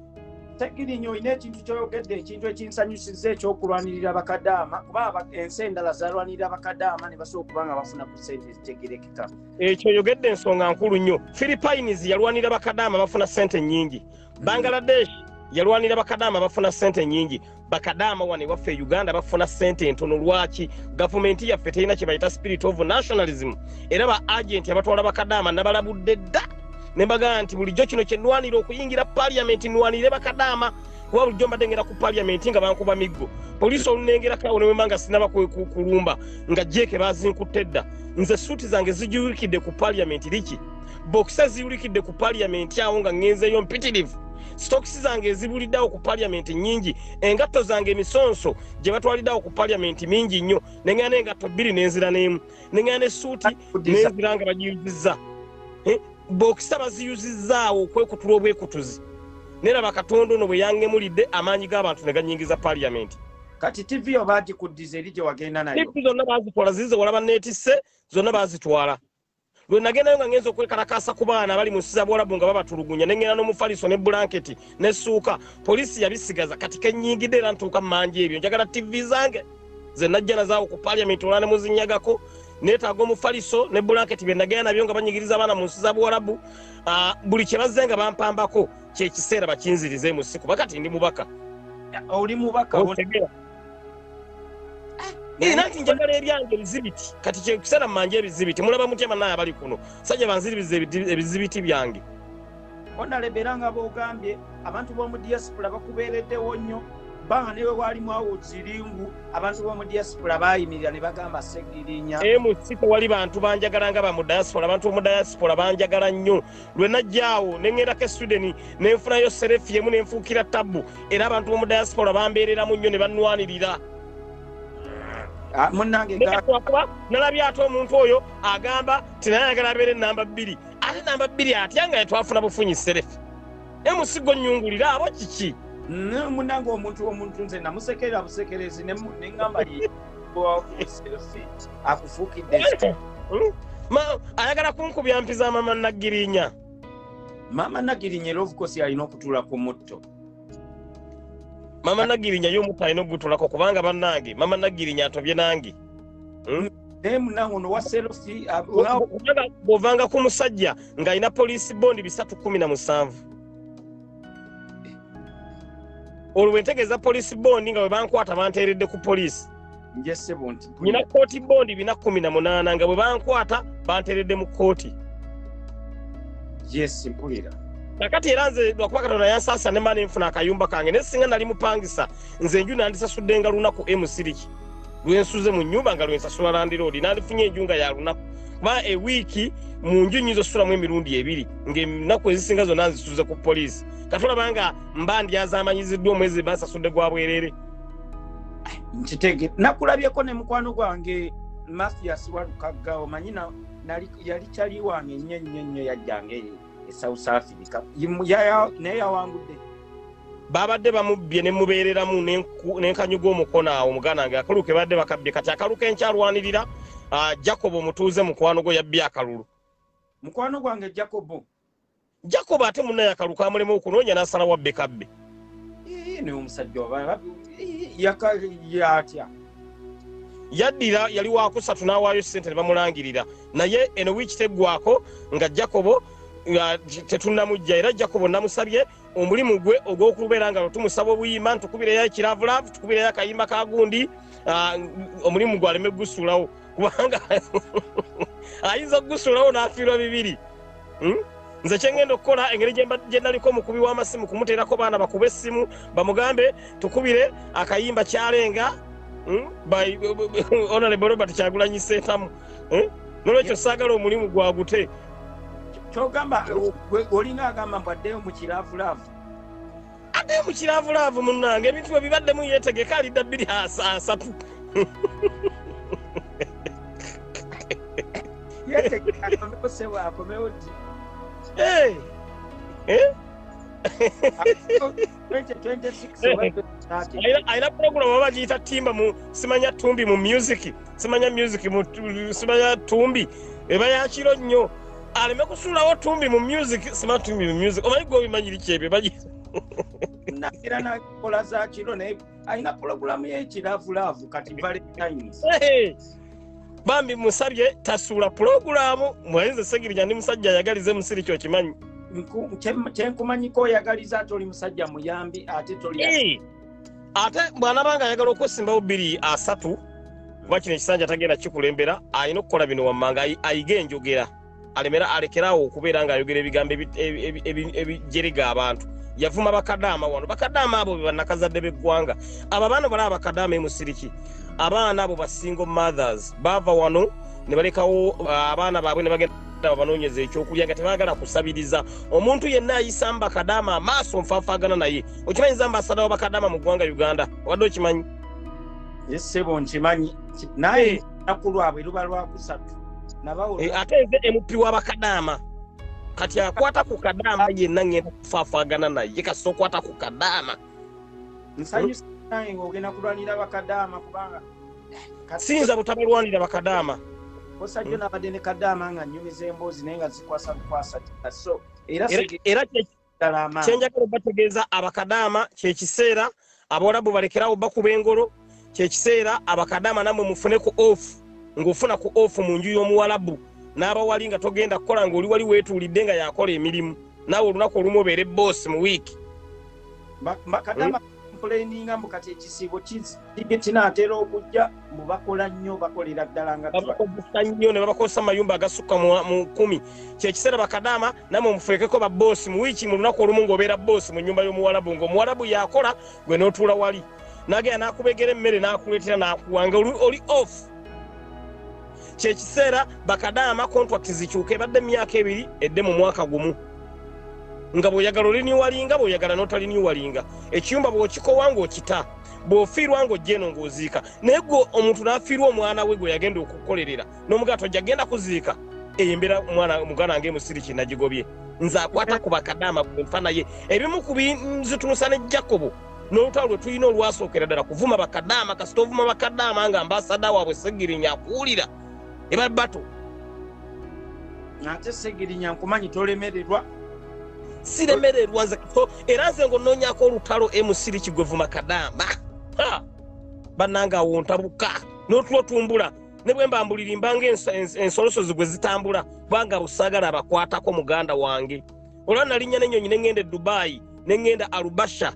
tegirinyo olina ekintu kyoyogedde ekintu ekinsanyusiza ekyokulwanirira bakadaama kuba ensi endala zalwanirira bakadaama ne basobola okuba nga bafuna ku sente ezitegerekeka ekyo oyogedde ensonga nkulu nnyo philipines yalwanirira bakadaama bafuna sente nnyingi bangaladesh yalwanira bakadaama bafuna sente nyingi bakadaama wano ewaffe e uganda bafuna sente entono lwaki gavumenti yaffe terina kyebayita spirit of nationalism era ba agenti abatwala bakadaama nabalabudde dda nembagaa nti bulijjo kino kyenwanira okuyingira paliamenti nwanire bakadaama kuba bulijjo mbadde ngera ku paliamenti nga bankuba miggo poliisi olunengerako awo newemba nga sinaba kulumba nga jeeke bazinkutte dda nze suuti zange zijuwikidde ku paliamenti liki bokisa ziwulikidde ku paliyamenti awo nga ŋŋenzeeyo mpitirivu sitokisi zange ezibuliddeawo ku paliyamenti nnyingi engatto zange emisonso gye batwaliddeawo ku paliyamenti mingi nnyo neŋŋana engatto bbiri n'enzira n'emu neŋŋana essuuti n'enzira nga bagiyuzizza eh, bokisa baziyuzizzaawo okwekutula obwekutuzi nera bakatonda ono bwe yangemulidde amaanyi g'abantu ne ganyingiza paliyamenti kati tivi yo bagikuddiza eri gye wagenda nayo zonna bazitwala zize walaba neetisse zonna bazitwala lwe nagendayo nga ngenza okwekalakaasa ku baana abali mu nsi za buwalabu nga babatulugunya ne ngenda n'omufaliso ne bulanketi n'essuuka poliisi yabisigaza kati kenyingidde era ntuuka mu manja ebyo njagala tivi zange ze najja nazaawo ku paliamenti olwa ne muzinyagako neetaaga omufaliso ne bulanketi bye nagenda nabyo nga banyigiriza abaana mu nsi za buwalabu ah, buli kye bazze nga bampambako kyekiseera bakinzirize mu siku bakati ndi mubaka oli mubaka Eh, nanti njagala ebyange ebizibiti kati kyekusana mumanje ebizibiti mulaba mutya banaye abali kuno sajja banziribiza ebizibiti byange onalebera nga bogambye abantu b'omu diaspora bakubeereddewo nnyo banga newe waali mwawo ziringu abantu b'omu diaspora baayimirira ne bagamba segirinya emusiko wali bantu banjagala nga bamu diaspora abantu b'omu diaspora banjagala nnyo lwe najja awo ne ŋŋendako e swideni ne nfunayo serefi emu ne nfuukira tabbu era abantu b'omu diaspora bambeereramu nnyo ne bannwanirira ah, munangeakuba nalabye ate omuntu oyo agamba ti naye ayagala abeera enamba bbiri ate namba bbiri atya nga yetwafuna bufunyi serefi emusigo nnyungulira abo kiki munange omuntu omuntu nze namusekerera busekerezi neŋamba akufukidde hmm? ayagala kunkubya mpi za mama nagirinya mama nagirinya era ofukosi alina okutula ku mutto mama nagirinya yo omutto alina okugutulako kubanga banange mama nagirinya atobye nange hmm? bwovanga ku musajja ng'alina poliisi bondi bisatu kumi na musanvu olwo bwentegeeza poliisi bondi nga bwebankwata banteeredde ku poliisi nyina kooti bondi bina kumi na munaana nga bwebankwata banteeredde mu kooti nakati era nze lwakuba katonda yansaasira ne mba nenfuna akayumba kange naye singa nali mupangisa nze enju nandisasuddenga lunaku emusiriki lwensuze mu nyumba nga lwensasula landiroodi nandifunye enju nga yalunaku kuba ewiiki mu nju nyinza osulamu emirundi ebiri ngaenaku ezisinga zona nzisuze ku poliisi katulaba nga mba ndyazamanyiziddwa omwezi basasudde gwa bwerere nkitege nakulabyeko ne mukwano gwange mathias walukagga omanyi yali kyali wange nnyo nnyo nnyo yajjanga eyo e south africa naye yawangudde babadde bamubbye ne mubeereramu n'enkanyuga omukono awo muganda wange akalulu ke babadde bakabbye kati akalulu kenkyalwanirira ah, jacobo omutuuze mukwano gwo yabbye akalulu mukwano gwange jacobo jacobo ate munaye akalulu kamulema okunoonya n'asala wabbe kabbe naye omusajja yatya yaddira yali wakusatu n'awaayo sente ne bamulangirira naye eno wiiki teggwako nga jacobo tetunnamujja era jacobo namusabye omulimu gwe ogw'okubeera nga tumusaba obuyimba ntukubireyo ekiravulavu tukubireyo akayimba ka gundi ah, omulimu gwe aleme kugusulawo kubanga ayinza okugusulawo n'afiirwa bibiri hmm? nze kyengenda okukola engeri gyendaliko omukubi w'amasimu kumuteerako baana bakube essimu bamugambe tukubire akayimba kyalenga hmm? by honorable robert kyagulanyi sentamu eh? nolwekyo saagala omulimu gwagute kyogamba olina agamba mbu addeyo mu kiraavulaavu addeyo mu kiraavulaavu munnange ebintu bwe bibaddemu yeetegeka alidda bbiri asatu yeetegeka akomewo sebo akomewo ddi eh? Eh? ayina pulogulamu oba bagiyita timba mu simanya tumbi mu music simanya music mu simanya tumbi eba yakiro nnyo aleme kusuulawo tumbi mu music sima tumbi mu music omanyi gwe obimanyiri kyebyo bagiyita nagira nakola zakiro naye alina pulogulamu yekilavulaavu kati valentines bambi musabye tasuula pulogulamu mwainze segirija ndi musajja ayagalize musiri kyokimanyi kyenkumanyiko oyagaliza ate oli musajja muyambi ate toli ate bwanabanga ayagala okwesimbawo bbiri asatu kuba kino ekisanja tagenda kikulembera alina okukola bino wammanga ayige enjogera alemera alekerawo okubeera ng'ayogera ebigambo ebijerega abantu yavuma bakadaama wano bakadaama abo bebanakazadde beggwanga abo abaana bala abakadaama emusiriki abaana abo basingle mothers baava wano ne balekawo uh, abaana baabwe ne bagenda babanoonyeza ekyokulya nga tebagala kusabiriza omuntu yenna ayisa mbakadaama amaaso nfafaagana naye okimanyi zamba asadawo bakadaama mu ggwanga uganda obadde okimanyi yesebo nkimanyi naye olunaku lwabwe luba lwakusatu eh, ate eze mp wa bakadaama kati akwata ku kadaama yenna ngenda kufaafagana naye kasita okwata ku kadaama nsanyusaogenda kulwanira bakadaama kubanga eh, siyinza butabalwanira bakadaama osajjo nabadde ne kadaama nga nyumiza emboozi naye nga zikwasa bukwasa era kyenjagala obategeeza abakadaama kyekiseera abawalabu balekerawo bakuba engolo kyekiseera abakadaama namwe mufune ku off ngaofuna ku off mu nju y'omuwalabu n'abawali nga togenda kukola ngaoli wali weetuulidde nga yakola emirimu naawe olunaku olumu obeere boosi mu wiiki complaininga mbu kati ekisiibo kinaatera okujja mbu bakola nnyo bakolera ddala nga babakozesa nnyo ne babakozesa mayumba agasukka mu kumi kyekiseera bakadaama namwe mufeekeko baboosi mu wiiki mu lunaku olumu ng'obeera boosi mu nnyumba y'omuwalabu ng'omuwalabu yakola gwe n'otuula wali nagenda n'akubegera emmere n'akuleetera n'akuwa nga oli off kyekiseera bakadaama contract zikyuka ebadde myaka ebiri edde mu mwaka gumu nga bwoyagala oliniwalinga bwoyagala notaliniwalinga ekiyumba bwokikowa ngaokita bwofiirwa ngaojeno ngaoziika naye gwe omuntu nafiirwa omwana we gwe yagenda okukolerera nomugaa tojja genda kuziika eyo embeera mwana muganda nga emusiri kinagigobye nze akwata ku bakadaama gwenfa naye ebimu ku binzitunusa ne jakobo n'olutalo lwe tulina olwasookera ddala kuvuma bakadaama kasita ovuma bakadaama nga ambasada waabwe segirinya akuwulira eba bato ate segirinya nkumanyi tolemererwa siremererwa nze era nze nga onoonyako olutalo emusiri kigwevuma kadaama bannanga awo ntabuka n'otulo tumbula ne bwe mba mbulirimbanga ensolosozi gwe zitambula kubanga busagala abakwatako muganda wange olwa nalinnya nenyonyi nengenda edubayi nengenda arubasha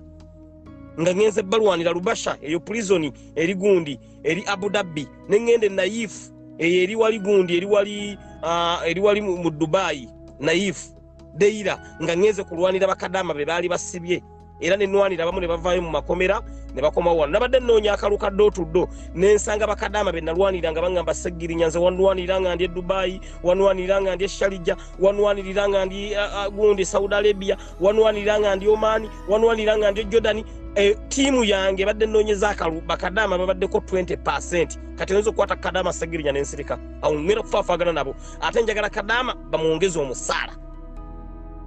nga ngenze balwanira rubasha eyo prizoni eri gundi eri abu dhabi nengenda enayifu eyo eri wali gundi eri wali ah, eri wali mu dubayi nayifu deira nga ngenze kulwanira bakadama be baali basibye era ne nwanira abamu ne bavaayo mu makomera ne bakomawo wano nabadde nnoonya akalu ka dootudo ne nsanga bakadaama be nalwanira nga baŋŋamba seggirinya nze wanwanira nga ndi e dubayi wanwanira nga ndi e shalija wanwanirira nga ndi gundi saudi arabia wanwanira nga ndi omani wanwanira nga ndi e jordani e, tiimu yange badde nnoonyeza akalu bakadaama babaddeko 20 percent kati oyinza okukwata kadaama seggirinya nensirika awo ŋŋera okufaafaagana nabo ate njagala kadaama bamwongeza omusaala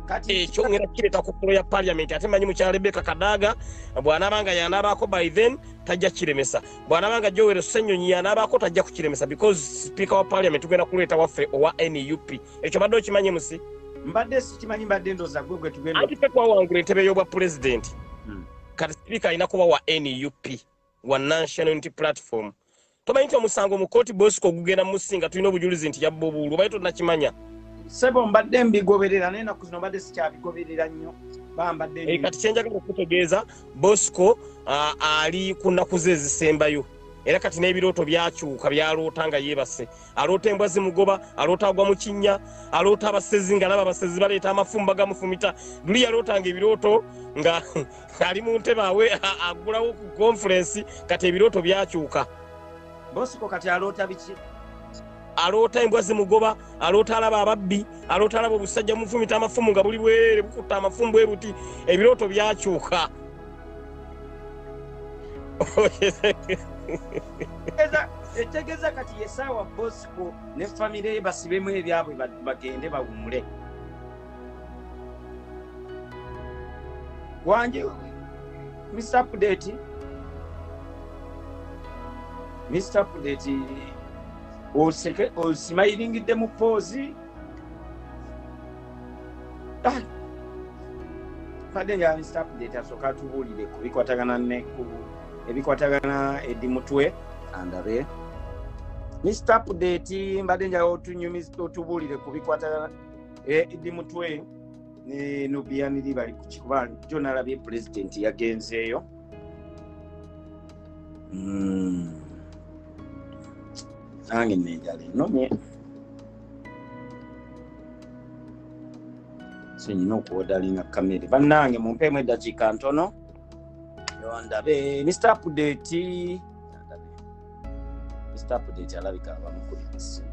kati ekyo ngenda kireta ku kulo ya parliament ate manyi mukyala Rebecca Kadaga bwanabanga yanabako by then tajja kiremesa bwanabanga Joel Senyonyi yanabako tajja kukiremesa because speaker wa parliament tugenda kuleta waffe owa NUP ekyo badde okimanyi musi mbadde sikimanyi mbadde ndoza gwe gwe tugenda ate kwa wangu entebe yobwa president hmm. kati speaker ina kuba wa NUP wa national unity platform tomanyi nti omusango mu kooti bosco ogugenda musinga tulina obujulizi nti yabba obuwulu obaye tonakimanya sebo mbadde mbigoberera naye naku zino mbadde sikyabigoberera nnyo bambadde eh, kati kyenjagala okutegeeza bosco ali ku nnaku ze ezisembayo era kati n'ebirooto byakyuka byaloota nga yeebase aloota embwa zimugoba aloota agwa mu kinnya aloota abasezi nga laba abasezi baleeta amafumba gamufumita luli yaloota nga ebirooto nga ali mu ntebe awe agulawo ku konfulensi kati ebirooto byakyuka bosiko kati aloota biki aloota embwa zimugoba aloota alaba ababbi aloota alaba obusajja mufumita amafumu nga buli bwerere bukutta amafumu bwe buti ebirooto byakyuka etegeza kati yesaawa bosiko ne famire ye basibemu ebyabwe bagende bawumule wanje mr update mr update oseke osimayiringidde mu poozi ah! kade nga mr update asooka atubuulire ku bikwatagana ne ku ebikwatagana edi mutwe andabe mr update mbadde njaga otunyumiza otubuulire ku bikwatagana eh, idi mutwe ne nobiyaniri bali kukikuba jo nalabye pulezidenti yagenzeeyo hmm. nange nenjala enomye senyina okuwodalinga kamere bannange mumpeemu eddakiika ntono yondabe mr apudeti mr update alabika abamukuli essimu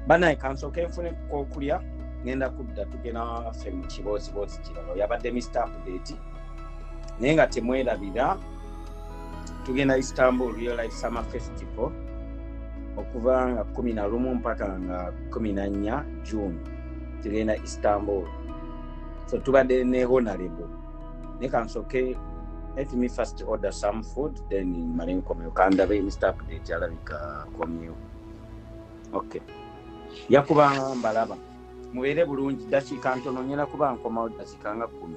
banaye kansooka enfune kokulya ngenda kudda tugenda waffe mu kibooziboozi kirala yabadde mr update naye nga temwerabira tugenda istanbul real life summer festival okuva nga kumi na lumu mpaka nga kumi na nnya june tugenda istanbul so tubadde ne honarable leka nsoke let me first order some food then male nkomeo kandabe mr update alabika komeo okay yakuba mbalaba mubeere bulungi dakiika ntono nyina kuba nkomawo dakiika nga kumi